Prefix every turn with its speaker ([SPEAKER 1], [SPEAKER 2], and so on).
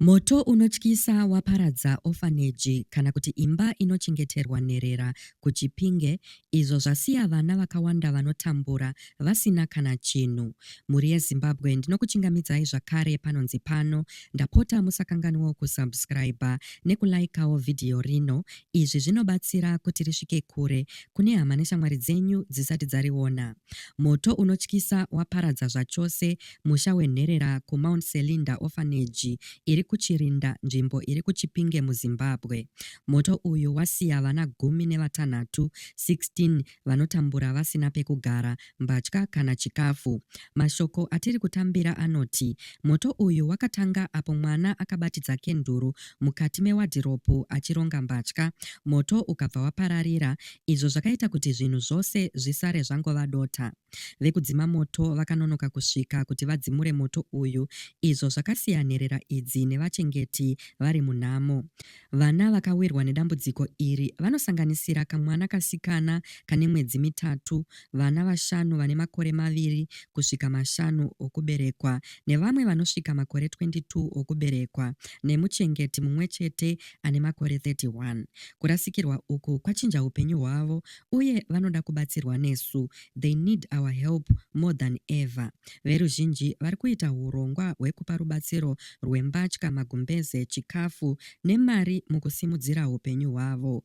[SPEAKER 1] Moto unotyisa waparadza ofaneji kana kuti imba inochengeterwa nherera kuChipinge izvo zvasiya vana vakawanda vanotambura vasina kana chinhu. Mhuri yeZimbabwe ndinokuchingamidzai zvakare panonzi pano. Ndapota musakanganwewo kusubscriber nekulaikawo vhidhiyo rino. Izvi zvinobatsira kuti risvike kure kune hama neshamwari dzenyu dzisati dzariona. Moto unotyisa waparadza zvachose musha wenherera kuMount Selinda Orphanage iri kuChirinda, nzvimbo iri kuChipinge muZimbabwe. Moto uyu wasiya vana gumi nevatanhatu, 16, vanotambura vasina pekugara, mbatya kana chikafu. Mashoko atiri kutambira anoti moto uyu wakatanga apo mwana akabatidza kenduru mukati mewadhiropu achironga mbatya, moto ukabva wapararira izvo zvakaita kuti zvinhu zvose zvisare zvangova dota. Vekudzima moto vakanonoka kusvika kuti vadzimure moto uyu izvo zvakasiya nherera idzi nevachengeti vari munhamo. Vana vakawirwa nedambudziko iri vanosanganisira kamwana kasikana kane mwedzi mitatu, vana vashanu vane makore maviri kusvika mashanu okuberekwa nevamwe vanosvika makore 22 okuberekwa nemuchengeti mumwe chete ane makore 31. Kurasikirwa uku kwachinja upenyu hwavo uye vanoda kubatsirwa nesu, they need our help more than ever. Veruzhinji vari kuita hurongwa hwekupa rubatsiro rwembatya, magumbeze, chikafu nemari mukusimudzira hupenyu hwavo.